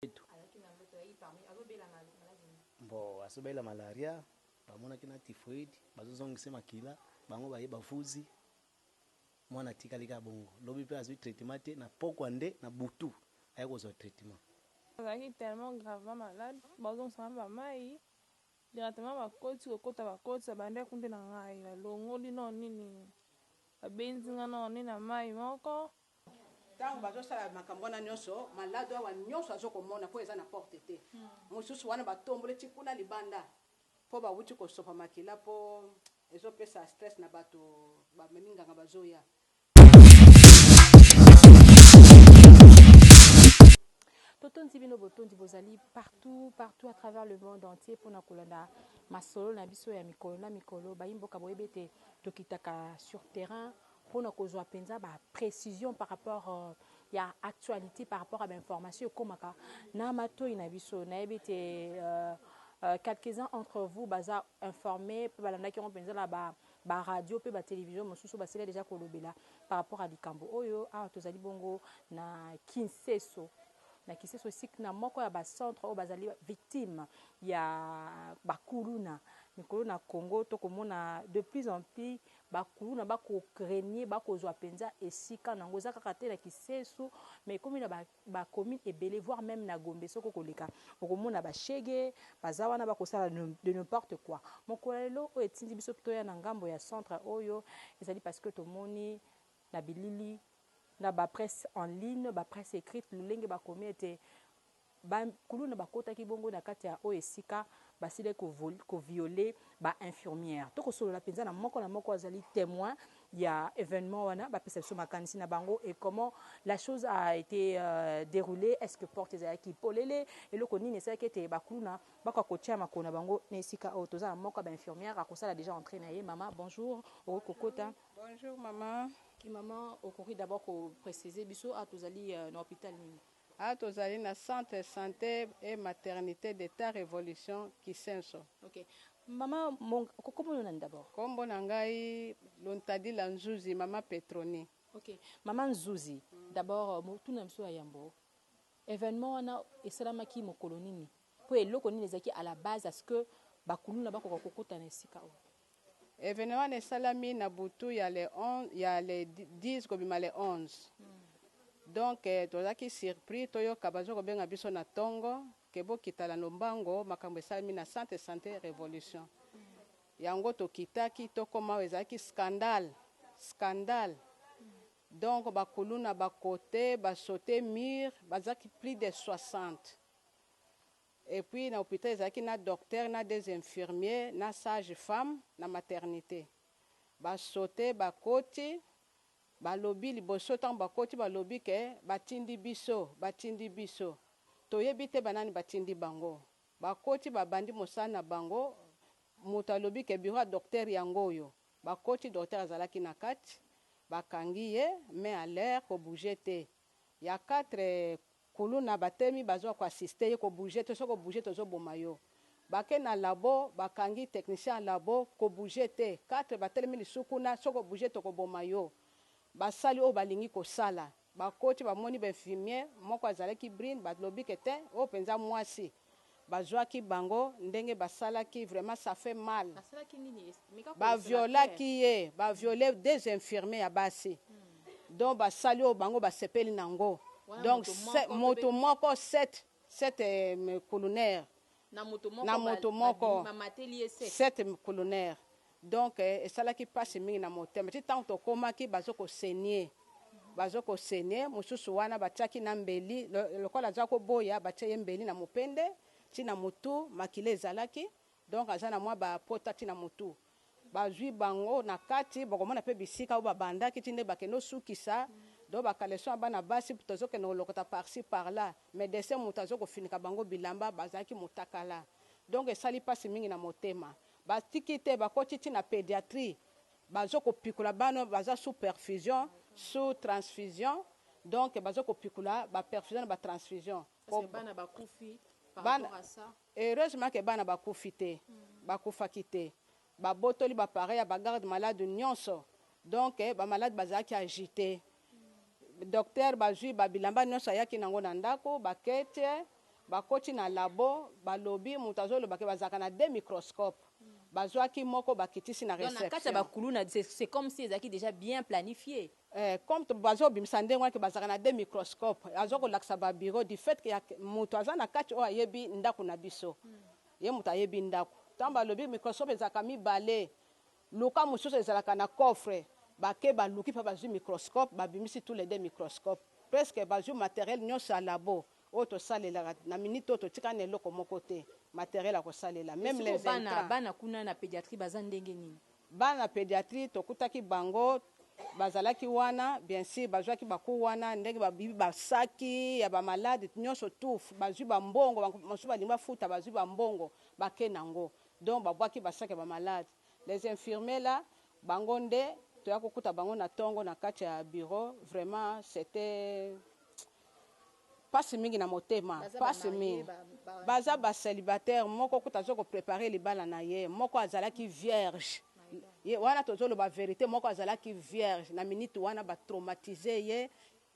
mbetu. Azalaki na ndoto ya hypermie azo bela maladie nini? Bo azo bela malaria ba monaki na typhoide bazo zongisa ye makila bango baye ba vuzi mwana atikali kaka bongo lobi pe azui traitement te na pokwa nde na butu aye kozua traitement. Azalaki tellement gravement malade bao zongisa nga ba mayi directement ba koti ko kota ba koti ba bandi akunde na ngayi ba longoli noo nini ba benzi nga noo nini na mayi moko Tango bazo sala makambo wana nionso malado awa nionso azo komona po eza na porte te mususu wana ba tomboli ti kuna libanda po ba wuti ko sopa makila po ezo pesa stress na batu ba memi nganga bazo ya Totondi bino botondi bozali partout partout à travers le monde entier mpo na kolanda masolo na biso ya mikolo na mikolo. Bayi mboka boyebi ete tokitaka sur terrain Mpo na kozwa penza ba precisions par rapport ya actualite, par rapport ya ba informations ekomaka na matoyi na biso, nayebi ete quelques uns entre vous baza informes mpe balandaki yango penza na ba radios mpe ba televisions mosusu, basila dejà kolobela par rapport ya likambo oyo. Awa tozali bongo na Kinseso, na Kinseso esika na moko ya ba centres oyo bazali victimes ya ba kuluna likolo na Congo. Tokomona de plus en plus Ba kuluna ba ko regner, ba ko zua penza esika nango. Eza kaka te na kisesu mais ekomi na ba ba communes ebele voir meme na Gombe soki oko leka oko mona ba chegue baza wana ba ko sala de ne porte quoi. Mokolo ya lelo oyo etindi biso toya na ngambo ya centre oyo ezali parce que tomoni na bilili na ba presse en ligne, ba presse ecrite lolenge ba komi ete, Ba kuluna bakotaki bongo na kati ya oyo esika basilaki ko vol, ko violer ba infirmières. To kosolola penza na moko na moko azali temoin ya evenement wana, bapesa biso makanisi na bango et comment la chose a ete derouler, est-ce que porte ezalaki polele, eloko nini esalaki ete ba kuluna bakoka kotia makolo na bango na esika oyo. Toza na moko ya ba infirmières akosala dejà entree na ye. Mama, bonjour, okoki kokota. Bonjour maman. Maman, okoki d'abord ko preciser biso awa tozali na hopital nini? Awa tozali na centre sante et maternite d'etat revolution kisenso. Ok mama monga kombo no nani d'abord. Kombo na ngai lontadila nzuzi mama petroni. Ok mama nzuzi d'abord motuna na biso ya yambo evenement wana esalamaki mokolo nini po eloko nini ezalaki à la base à ce que ba kuluna bakoka kokota na esika oyo. Evenement wana esalami na butu ya le 11 ya le 10 kobima le 11 donc tozalaki surpris toyoka bazo kobenga biso na tongo que bokita na lombango makambo esalami na centre de sante revolution yango tokitaki tokoma awa ezalaki scandal scandal donc ba kuluna ba cote ba saute mur bazalaki plus de 60 Et puis na hopital ezalaki na docteur na deux infirmiers na sage femme na maternite. Ba saute bakoti balobi liboso tango bakoti balobi que batindi biso batindi biso toyebi te ba nani batindi bango. Bakoti babandi mosala na bango mutu alobi que bureau ya docteur yango oyo. Bakoti docteur azalaki na kati bakangi ye main à l'air ko bouger te. Ya quatre Kuluna batemi bazo ko assiste ye ko bouger te soki o bouger tozo boma yo bake na labo bakangi technicien ya labo ko bouger te quatre batelemi lisusu kuna soki o bouger toko boma yo basali oyo balingi kosala bakoti bamoni ba infimier moko azalaki brine balobi ke te oyo penza muasi bazuaki bango ndenge basalaki vraiment ça fait mal ba violaki ye ba viole deux infirmiers ya basi donc basali oyo bango basepeli na ngo donc mutu moko sept sept culunaire na mutu moko sept culunaire Donc esalaki pasi mingi na motema ti tango tokomaki bazo ko saigne bazo ko saigne mususu wana batiaki na mbeli lokola aza ko boya batie ye mbeli na mupende ti na mutu makila ezalaki donc aza na mwa ba pota ti na mutu bazui bango na kati bokomona pe bisika oyo babandaki ti nde bakende osukisa donc ba caleçon ya bana basi tozo kende kolokota par ci par là medecin mutu azo kofinika bango bilamba bazalaki mutakala donc esali pasi mingi na motema Ba tiki te ba koti ti na pediatrie bazo ko pikula bana baza sous perfusion sous transfusion donc bazo ko pikula ba perfusion na ba transfusion po bana heureusement que bana ba kufi te ba kufaki te ba botoli ba pareil ya ba garde malade nionso donc ba malade bazalaki agite Docteur bazui ba bilamba nionso ayaki na ngo na ndako, ba kete, bakoti na labo, balobi mutu azoloba ke bazalaka na deux microscopes, bazuaki moko bakitisi na reception. Donc na kati ya ba kuluna c'est comme si ezalaki dejà bien planifie? Eh, comme bazo bimisa ndenge wana ke bazalaka na deux microscopes, azo kolakisa ba bureaux, du fait ke mutu aza na kati oyo ayebi ndaku na biso, ye mutu ayebi ndaku, tangu balobi microscope ezalaka mibale, Luka mosusu ezalaka na coffre. Ba ke ba luki pe bazui microscope ba bimisi tout les deux microscope. Presque bazui materiel nionso ya labo oyo to salelaka na minute oyo to tikali na eloko moko te materiel ya ko salela Mais meme sikoyo les bana intrants. bana kuna na pediatrie baza ndenge nini? Bana na pediatrie to kutaki bango ba zalaki wana bien sur ba zuaki ba cours wana ndenge ba bibi ba saki ya ba malade nionso tout ba zui ba mbongo ba mosusu ba lingi ba futa ba zui ba mbongo ba ke na ngo Donc ba bwaki ba sac ya ba malades. Les infirmiers là bango nde toya ko kuta bango na tongo na kati ya bureau vraiment c'etait pasi mingi na motema pasi mingi baza ba celibataire moko kutu azo ko preparer libala na ye moko azalaki vierge ye wana tozo loba verite moko azalaki vierge na minute wana ba traumatiser ye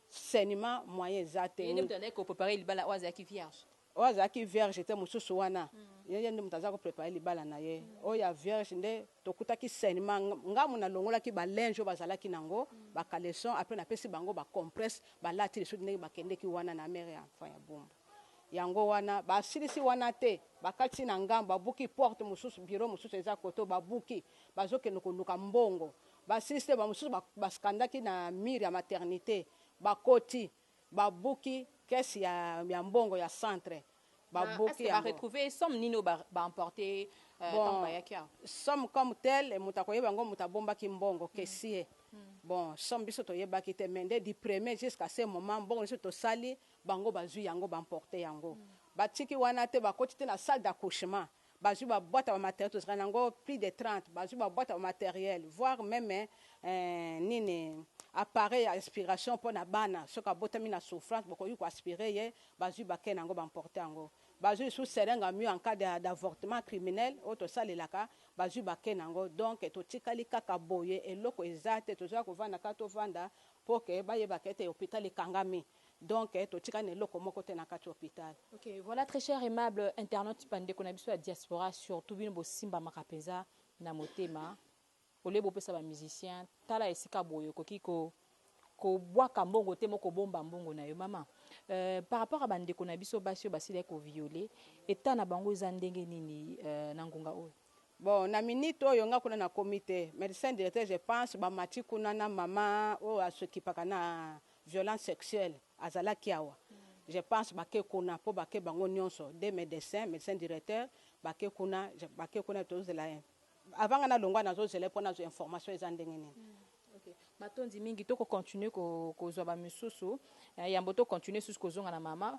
sainement moyen eza te. Ye nde mutu andaki ko preparer libala oyo azalaki vierge? Oyo azalaki vierge te mususu wana ye nde mutu aza ko preparer libala na ye oyo ya vierge nde tokutaki sainement nga mutu na longolaki ba linge oyo bazalaki na ngo ba caleçon après na pesi bango ba compresse ba lati lisusu ndenge ba kendeki wana na mère ya enfant ya bumbu ya ngo wana ba silisi wana te ba kati na ngambo ba buki porte mususu bureau mususu eza kote oyo ba buki bazo kende ko luka mbongo ba silisi te ba mususu ba scandaki na mur ya maternite ba koti Ba buki caisse ya ya mbongo ya centre ba buki yango. Est ce que ba retrouver somme nini oyo ba emporte tangu bayaki awa? Bon somme comme tel mutu ako yeba yango mutu abombaki mbongo caissier bon somme biso to yebaki te mais nde du premier jusqu'à ce moment mbongo nioso to sali bango bazui yango ba emporte yango ba tiki wana te ba koti ti na salle d'accouchement bazui ba bwata ba materiel tozalaka na ngo plus de 30 bazui ba bwata ba materiel voir meme nini appareil ya aspiration pona bana soki abotami na souffrance bokoki ko aspirer ye bazui ba kin na ngo ba emporter yango bazui lisusu seringue ya mur en cas d'avortement criminel oyo tosalelaka bazui ba kin na ngo donc totikali kaka boye eloko eza te toza kovanda kaka tovanda pour que bayeba ke ete hopital ekangami. donc totikali na eloko moko te na kati hopital. Ok voila très cher aimable internaute ba ndeko na biso ya diaspora surtout bino bo simbamaka penza na motema au lieu bo pesa ba musiciens tala esika boye okoki ko ko bwaka mbongo te mais oko bomba mbongo na yo maman euh par rapport ya ba ndeko na biso basi oyo basilaki ko violer etat na bango eza ndenge nini euh na ngonga oyo? Bon na minute oyo nga kuna na komi te medecin directeur je pense ba mati kuna na mama oyo a s'occupaka na violence sexuelle azalaki awa je pense ba ke kuna po ba ke bango nionso deux medecins medecin directeur ba ke kuna ba ke kuna tozo zela ye avant nga na longwa nazo zela ye po nazua information eza ndenge nini. Ok matondi mingi toko continuer ko kozua ba misusu yambo to continuer lisusu kozonga na mama.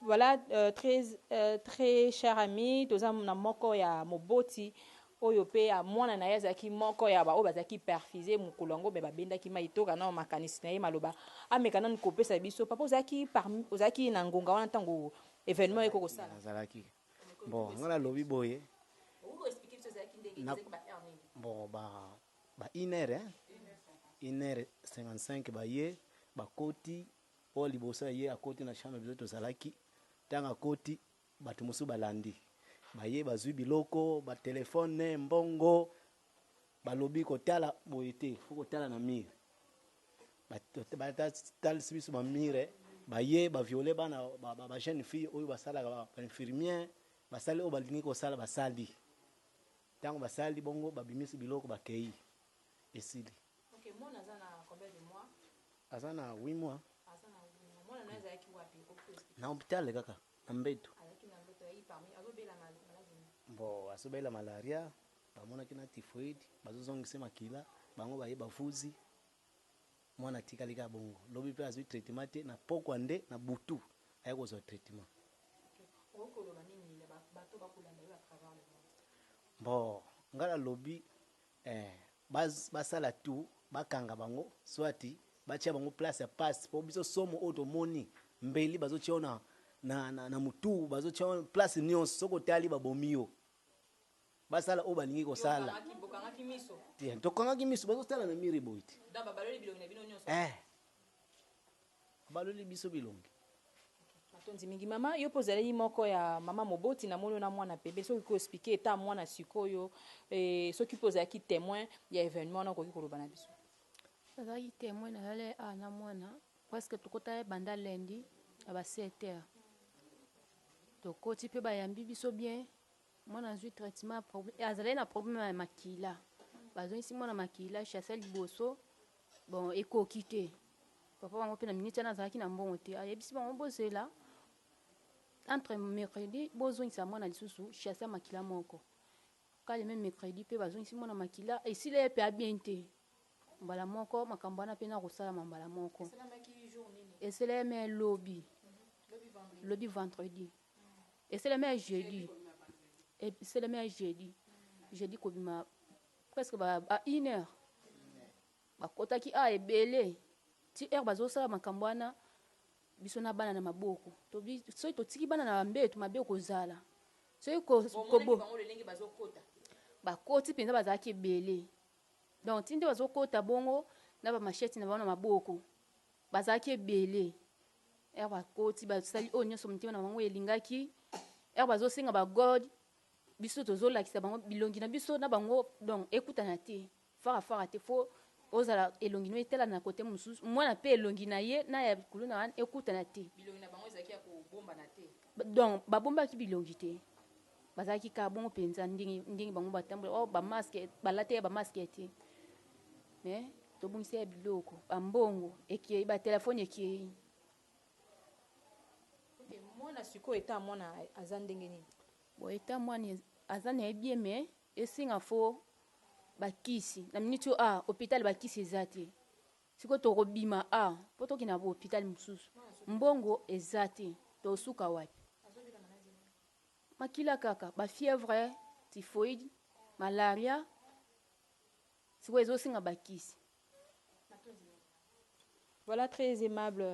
Voilà très très cher ami toza na moko ya moboti oyo pe ya mwana na ye azalaki moko ya ba oyo bazalaki perfuse mokolo yango me babendaki mai toka nao makanisi na ye maloba ameka nanu kopesa biso papa ozalaki parmi ozalaki na ngonga wana ntango evenement oyo kokosala nazalaki bon nga nalobi boye bon ba ba une heure hein une heure 55 baye bakoti oyo liboso ya ye akoti na chambre biso tozalaki tango akoti batu mosusu balandi baye bazui biloko ba telephone mbongo balobi kotala boye te faut kotala na mur batalisi biso ba mur baye ba viole bana ba jeune fille oyo basalaka ba infirmier basali oyo balingi kosala basali tango basali bongo babimisi biloko bakei esili. Ok mwana aza na combien de mois? Aza na huit mois. Aza na huit mois. Mwana naye azalaki wapi? Okoki ko expliquer? Na hopital kaka na mbetu. Azalaki na mbetu aye parmi azo bela maladi nini? Bon azo bela malaria ba monaki na typhoide bazo zongisa ye makila bango baye ba vuzi mwana atikali kaka bongo lobi pe azui traitement te na pokwa nde na butu aye kozua traitement. Ok okoki koloba nini na batu oyo bako landa yo à travers le monde? Bon nga na lobi Eeh bas basala tout bakanga bango soit batia bango place ya pasi po biso somo oyo tomoni mbeli bazotia yo na na na na mutuu bazotia yo place nionso soki otali babomi yo basala oyo balingi kosala tokangaki misu bazotala na mire boye te eeh Baloli biso bilongi. Matondi mingi mama yo pe ozaleli moko ya mama moboti na moni yo na mwana pembeni soki okoki ko explique etat ya mwana sikoyo et soki pe ozalaki temoin ya evenement wana okoki koloba na biso. Nazalaki temoin nazali awa na mwana presque tokotaki banda lundi na ba sept heures tokoti pe bayambi biso bien Mwana azui traitement ya problème eh, azalaki na problème ya makila bazongisi mwana makila chez ya liboso bon ekoki te papa bango mpe na minute wana azalaki na mbongo te ayebisi bango bozela entre mercredi bozongisa mwana lisusu chez ya makila moko kale meme mercredi mpe bazongisi mwana makila esila ye mpe abien te mbala moko makambo wana mpe nakosalama mbala moko esela ye me lobi lobi vendredi esalemi ya jeudi esalemi ya jeudi jeudi kobima presque ba, ba une heure bakotaki a ah, ebele ti heure bazosala makambo wana biso na bana na maboko tobi soki totiki bana na bambetu mabe okozala soki kobo bakoti mpenza bazalaki ebele donc ti nde bazokota bongo na bamasheti na bango na maboko bazalaki ebele Heure bakoti basali oyo nyonso motema na bango elingaki. Heure bazosenga ba god biso tozolakisa bango bilongi na biso na bango donc ekutana te fara fara te fo ozala elongi no etala na kote mosusu mwana mpe elongi na ye na ya kuluna wana ekutana te donc babombaki bilongi te Bazalaki kaka bongo penza ndenge ndenge bango batambola oh ba masque balata ya ba masque te mais tobungisa ya biloko ba mbongo ekei ba telefone ekei okay, mwana sikoyo eta mwana aza ndenge nini bon eta mwana aza na ye bien mais esenga fo bakisi na miniti oyo ah hôpital bakisi eza te sikoyo tokobima ah mpo tokenda ba hôpital mosusu mbongo eza te tosuka wapi Makila kaka ba fièvre typhoïde malaria sikoyo ezo senga ba kisi. Voilà très aimable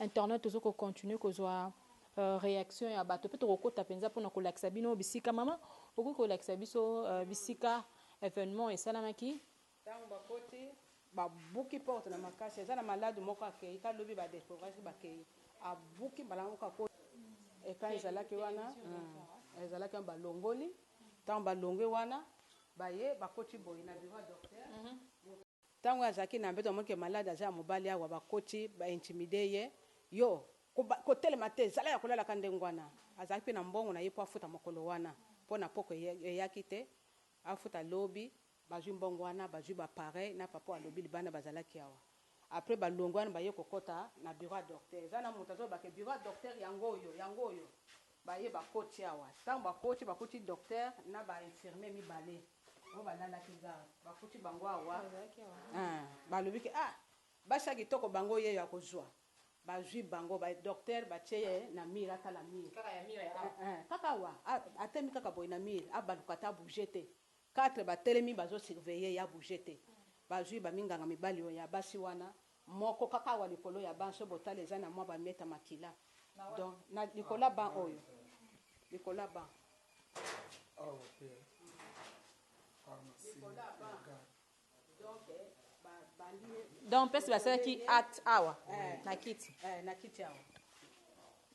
internaute tozo ko continuer kozua reaction ya bato pe toko kota penza pona ko lakisa bino bisika maman okoki ko lakisa biso bisika evenement esalamaki Tango bakoti, babuki porte na makasi, eza na malade moko akeyi ta lobi ba decouvrir bakeyi, abuki mbala moko akoti ecran ezalaki wana, ezalaki wana balongoli, tango balongwe wana baye bakoti boye na bureau ya docteur, tango ye azalaki na mbetu amoni ke malade aza ya mobali awa bakoti ba intimide ye, yo kotelema te zala ya kolala ka ndenge wana, azalaki mpe na mbongo naye mpo afuta mokolo wana mpo na pokua eyaki te, afuta lobi Bazwi mbongo wana bazwi ba pareil na papa oyo alobi libanda bazalaki awa apres balongwe wana baye kokota na bureau ya docteur eza na mutu azoloba ke bureau ya docteur yango oyo yango oyo baye bakoti awa tango bakoti bakuti docteur na ba infirmier mibale oyo balalaki garde bakuti bango awa eeh balobi ke ah basi ya kitoko bango yeyo akozwa bazwi bango ba docteur batie ye na mur atala mur eeh kaka awa atelemi kaka boye na mur abaluka te abouge te Quatre ba telemi bazo surveiller ya bouger te bazui ba minganga mibali oyo ya basi wana moko kaka awa likolo ya banc soki botali eza na mwa ba miette makila donc na likolo ya banc oyo likolo ya banc. Awa pe pharmacie ya garde. donc mpese basalaki acte awa na kiti eh, na kiti awa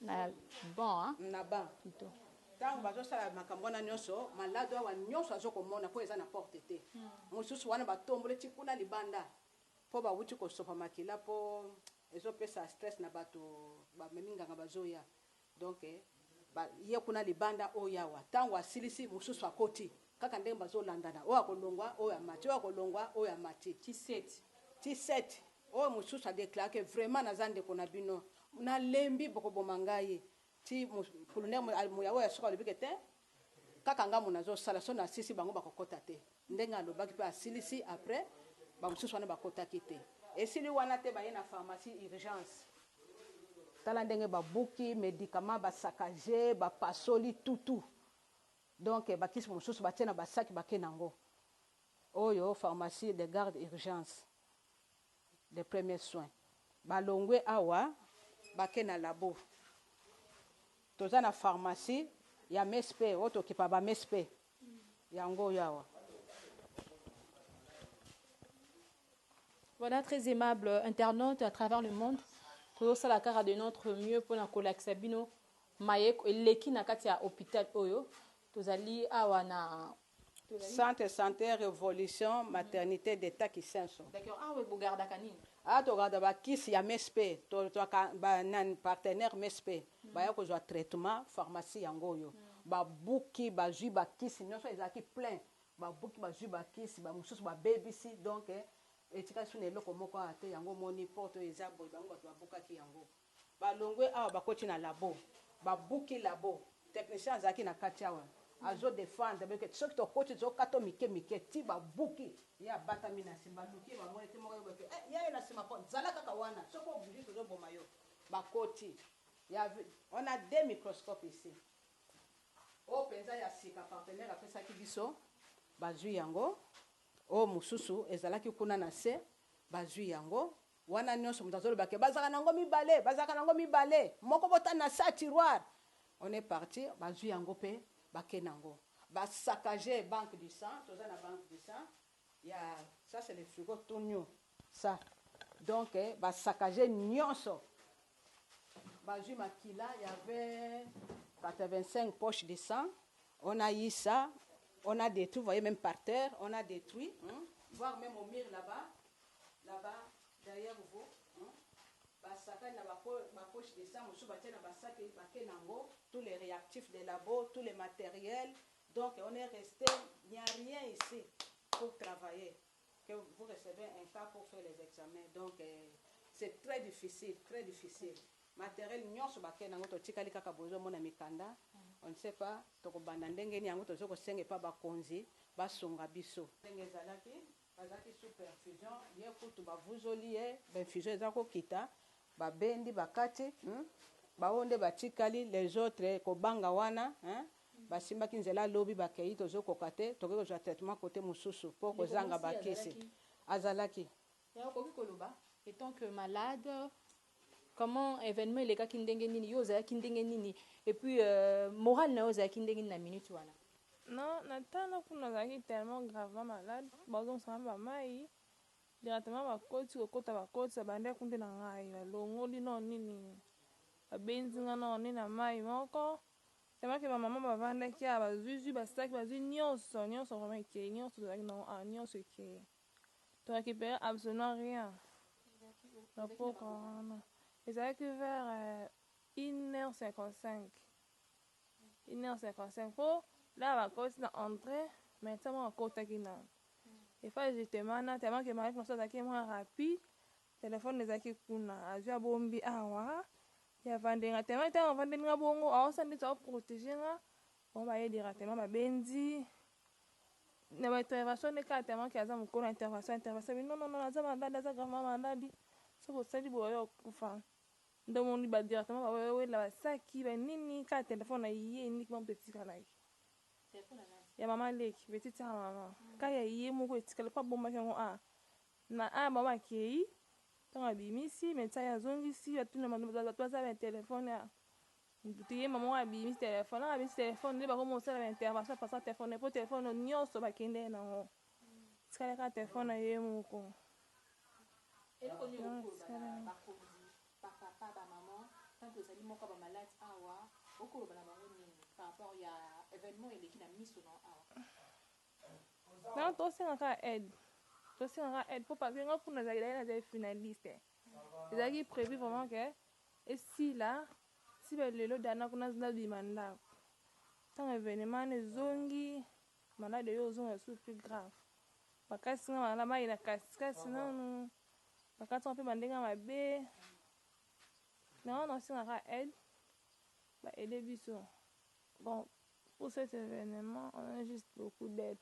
na ban na ban plutôt ntango bazosala makambo wana nyonso malado awa nyonso azokomona mpo eza na porte te hmm. mosusu wana batombole ti kuna libanda mpo bawuti kosopa makila mpo ezopesa stress na bato bamemi nganga bazoya Donc ba ye kuna libanda oyo ye awa tangu asilisi mususu akoti kaka ndenge bazo landana oyo ako longwa oyo amati oyo ako longwa oyo amati. Tshiset. Tshiset oyo mususu a declara ke vraiment naza ndeko na bino na lembi boko boma ngai ti pulunel muya oyo ya suka alobi ke te Kaka ngambo nazo sala soki na sisi bango bako kota te ndenge alobaki pe asilisi après ba mususu wana ba kotaki te. Esili wana te baye na pharmacie urgence tala ndenge ba buki medicament ba saccage ba pasoli tout tout donc ba kisi mususu ba tie na ba sac ba ke nango oyo pharmacie de garde urgence de premier soin ba longwe awa ba ke na labo toza na pharmacie ya msp oyo to kipa ba msp yango oyo awa. Voilà très aimable internaute à travers le monde tozo sala kaka de notre mieux pona ko lakisa bino maye eleki na kati ya hopital oyo tozali awa na Centre sante revolution maternite de ta kisenso. D'accord awa bo gardaka nini? Awa to garda ba kisi ya msp to zwaka ba nani partenaire msp baya kozwa traitement pharmacie yango oyo ba buki ba zwi ba kisi nioso ezalaki plein ba buki ba zwi ba kisi ba mususu ba bebisi donc etikali sous na eloko moko awa te yango omoni porte oyo eza boye bango batu ba bukaki yango Balongwe awa bakoti na labo babuki labo technicien azalaki na kati awa azo defendre bino ke soki tokoti tozo kata mike mike ti babuki ye abatami na sima baluki ye bamoni te moko ayebake eh yayo na sima po zala kaka wana soki obouge tozo boma yo bakoti ya on a deux microscope ici oyo penza ya sika partenaire apesaki biso bazui yango oyo mosusu ezalaki kuna na se bazui yango Wana nionso moto azoloba que bazalaka nango mibale, bazalaka nango mibale, moko botani na sa tiroir. On est parti, bazui yango pe bake nango. Ba saccage banque du sang, toza na banque du sang ya ça c'est le frigo tout new ça donc ba saccage nionso, bazui makila il y'avait 85 poches de sang, on a eu ça, on a detruit, vous voyez meme par terre, on a detruit, voir meme au mur là-bas, na ba derrière vos hum ba sakani na ba ba poche de sang mosusu batie na ba sac bake na ngo tout les reactifs de labo tout les materiels donc on est reste il n'y a rien ici pour travailler que vous recevez un cas pour faire les examens donc c'est très difficile très difficile materiel nionso bake na ngo totikali kaka bozo mona mikanda on ne sait pas tokobanda ndenge nini yango tozo kosenga epa bakonzi basunga biso ndenge ezalaki Azalaki sous perfusion ye kutu ba vuzoli ye ba infusion eza ko kita ba bendi ba kati hum ba oyo nde ba tikali les autres ko banga wana hein ba simbaki nzela lobi ba keyi tozo koka te toke kozua traitement cote mususu po ko zanga ba kisi azalaki. Mais okoki koloba etant que malade Comment evenement elekaki ndenge nini yo ozalaki ndenge nini et puis morale nayo ezalaki ndenge nini na minute wana. Non na temps na kuna nazalaki tellement gravement malade bazongisa nga ba mayi directement bakoti kokota bakoti babandaki kundela ngayi balongoli non nini babenzi nga non nini na mayi moko tellement que ba maman bavandaki awa bazui zui ba sac bazui nionso nionso vraiment ekeyi nionso tozalaki na yango awa nionso ekeyi. To recuperer absolument rien na pokua wana. Ezalaki vers 1h55, 1h55 po naba bakoti na entree mais tse moko akotaki nanu. Il fallait justement na tellement que Mariette Massou azalaki mua rapide, telephone ezalaki kuna azui abombi awa ya vandenga tellement tangu avandeli nga bongo aosala neti ao proteger nga Bango baye directement ba bendi na ba intervention nde kaka tellement que aza mukolo ya intervention intervention alobi non non non aza malade aza gravement malade soki osali boye oyo akufa nde omoni ba directement ba wela ba saki ba nini kaka telephone na ye uniquement mutu etikalaki ya maman leki petite sœur ya maman kaka ya ye moko etikali po abombaki yango awa na awa bango bakeyi tango abimisi medecin aye azongisi batuni bato baza ba telephone awa Mutu ye mama oyo abimi telephone wana abeti telephone nde bakomi kosala ba intervention par sa telephone po telephone oyo nionso bakendee na ngo etikali kaka telephone na ye moko eloko nini okoki koloba na bakonzi ba papa ba maman tango ozali moko ya ba malade awa okoki koloba na bango nini par rapport ya evenement eleki na miso na yo awa non tosenga kaka aide tosenga kaka aide po parce que nga kuna nazalaki nazali finaliste ezalaki prevu vraiment que Esila ti ba lelo dana kuna azo bima ndaku tango evenement wana ezongi malade oyo ozonga lisusu plus grave bakatisi nga na mayi na katikati nanu bakati nga mpe bandenge ya mabe na wana osengaka aide ba aide biso bon pour cet evenement on a juste beaucoup d'aide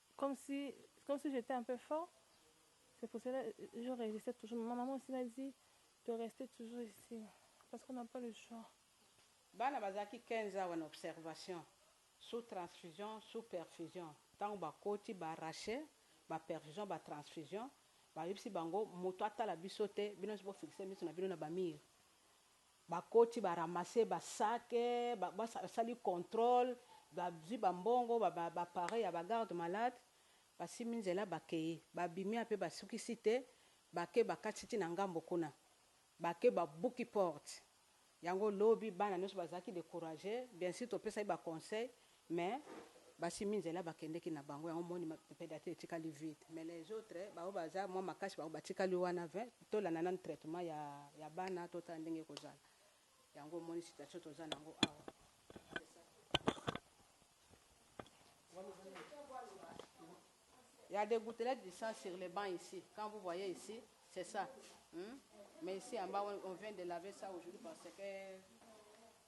comme si comme si j'etais un peu fort c'est pour cela je resistais toujours ma maman aussi m'a dit de rester toujours ici parce qu'on n'a pas le choix Bana bazalaki 15 awa na observation sous transfusion sous perfusion tango bakoti ba arracher ba perfusion ba transfusion bayebisi bango mutu atala biso te bino nionso bo fixer misu na bino na ba mur Bakoti ba ramasser ba sacs, basali controle, bazui ba mbongo, ba appareils ya ba gardes malades, basimbi nzela bakeyi. Babimi ape basukisi te, bake bakati ti na ngambo kuna. Bake babuki porte. Yango lobi bana nionso bazalaki decourager, bien sur topesaki ba conseils, Mais basimbi nzela bakendeki na bango yango omoni pedature etikali vide mais les autres ba oyo baza mua makasi bango batikali wana vin tolanda nanu traitement ya ya bana totala ndenge ekozala yango omoni situation toza nango awa. Il ya des gouttelettes du sang sur le banc ici quand vous voyez ici c'est ça hum mais ici en bas on vient de laver ça aujourd'hui parce que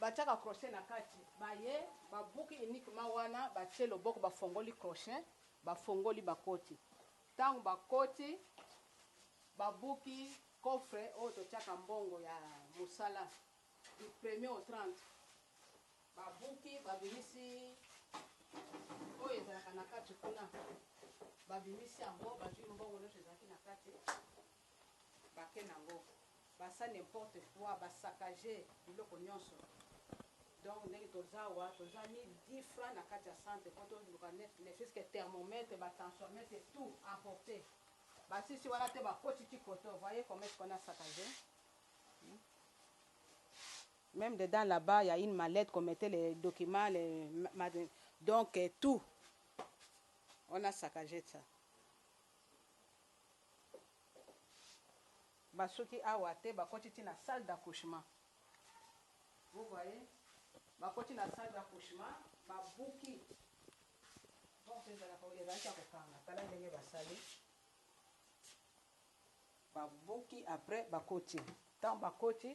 Batiaka crochet na kati baye babuki uniquement wana batie loboko bafongoli crochet bafongoli bakoti tango bakoti babuki coffre oyo totiaka mbongo ya mosala du premier au 30 babuki babimisi oyo ezalaka na kati kuna babimisi yango bazwi mbongo nioso ezalaki na kati bake nango basa n'importe quoi ba saccage biloko nionso donc ndenge toza awa toza ni different na kati ya centre po toluka ne fut ce que thermomètre ba tensiometre tout emporte basisi wana te bakoti ti koto voyez comment est ce qu'on a saccage hmm? Même dedans là-bas, il y a une mallette qu'on mettait les documents, les... donc euh, tout. On a saccagé ça. Ba suki awa te ba koti ti na salle d'accouchement vous voyez ba koti na salle d'accouchement ba buki porte ezalaka oyo ezalaki ya ko kanga tala ndenge ba sali ba buki après ba koti tango ba koti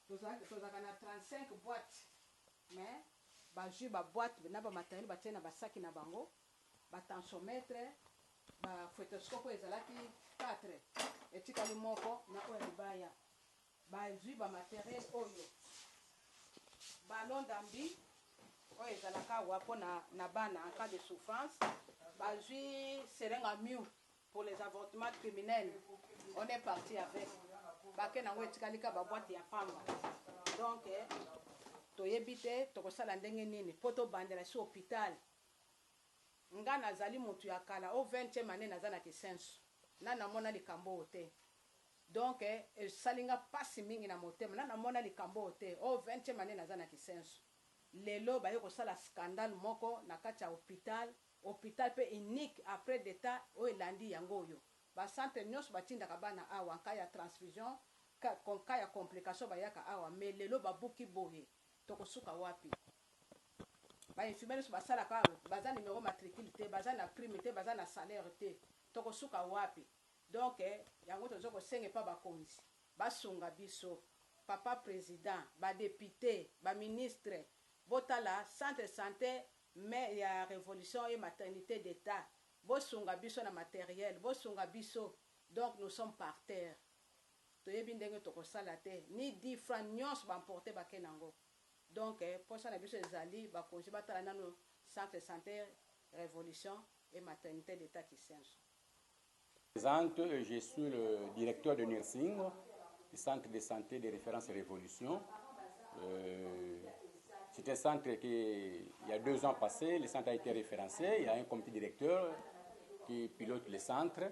tozalaka na 35 boite mais bazui ba boite na ba matériel ba tie na ba saki na bango Ba tensiometre, ba fetoscope oyo ezalaki 4 etikali moko na oyo ya libaya. Bazui ba materiel oyo, ballon d'ambi oyo ezalaka awa po na na bana en cas de souffrance, bazui seringue à miu pour les avortements criminels, on est parti avec. Paquet n'ango etikali kaka ba boites ya pamba. Donc toyebi te tokosala ndenge nini po tobandela esi hopital. Nga na zali mutu ya kala o vingtieme annee na za na kisensu na na mona likambo oyo te donc esali nga pasi mingi na motema na na mona likambo oyo te o vingtieme annee na za na kisensu lelo baye ko sala scandale moko na kati ya hopital hopital pe unique après d'etat oyo elandi yango oyo ba centre nionso ba tindaka bana awa en cas ya transfusion cas ya complication ba yaka awa mais lelo ba buki boye. Tokosuka wapi? Ba infirmiers nionso basalaka awa baza numero matricule te, baza na prime te, baza na salaire te, tokosuka wapi? Donc yango tozo kosenga epa bakonzi basunga biso, papa president, ba deputes, ba ministres, botala centre sante mais ya revolution et maternite d'etat, bosunga biso na materiel, bosunga biso donc nous sommes par terre. toyebi ndenge toko sala te ni dix francs nionso ba emporte bake nango donc posa na biso ezali bakonzi batala nanu centre sante revolution et maternite d'etat kisenso. Je me presente, je suis le directeur de nursing du centre de sante de reference revolution, c'est un centre que il ya deux ans passe le centre a ete reference, il ya un comite directeur qui pilote le centre.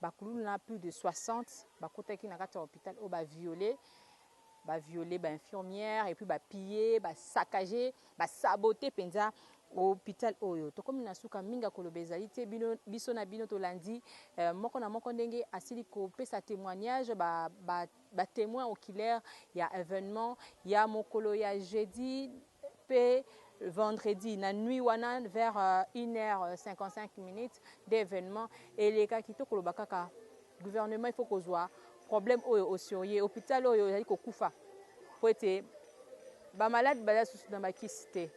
Ba kuluna plus de 60 bakotaki na kati ya hopital oyo ba violer, ba violer ba infirmières et puis ba piller, ba saccager, ba saboter penza hopital oyo. Tokomi na suka, mingi ya koloba ezali te, bino, biso na bino tolandi moko na moko ndenge asili kopesa temoignage, ba, ba, ba temoins oculaires ya evenement ya mokolo ya jeudi. Mpe vendredi na nuit wana vers une heure 55 minutes nde evenement elekaki. To koloba kaka gouvernement il faut kozua problème oyo au serieux. Hopital oyo ezali kokufa mpo ete ba malades baza susu na ba kisi te.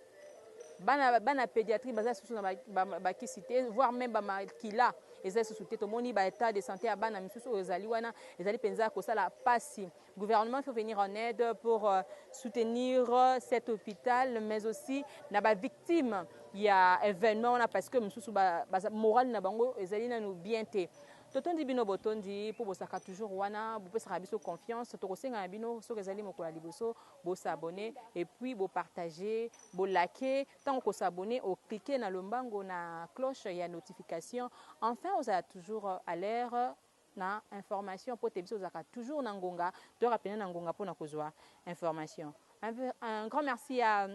Bana, bana pédiatrie baza susu na ba, ba, ba kisi te, voire même ba makila eza susu te. Tomoni ba état de santé ya bana misusu oyo ezali wana, ezali penza kosala pasi. Gouvernement il faut venir en aide pour soutenir cet hopital mais aussi na ba victimes ya evenement wana parce que mususu ba, ba morale na bango ezali nanu bien te totondi bino botondi mpo bosaka toujours wana bopesaka biso confiance tokosenga na bino soki ezali mokolo ya liboso bosabone et puis bopartage bolake ntango kosabone oclike na lombango na cloche ya notification enfin ozala toujours à l'air na information po te biso tozalaka toujours na ngonga toyaka pena na ngonga pona kozua information un peu un grand merci ya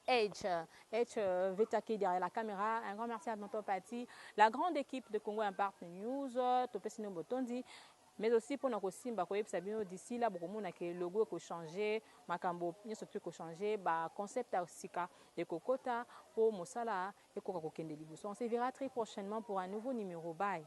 H H veta ki derrière la camera un grand merci à tonton Patty la grande equipe de Congo Impart News topesi bino botondi mais aussi pona kosimba koyebisa bino d'ici là bokomona ke logo eko changer makambo nionso tout eko changer ba concept ya sika ekokota po mosala ekoka kokende liboso on se verra très prochainement pour un nouveau numero bye.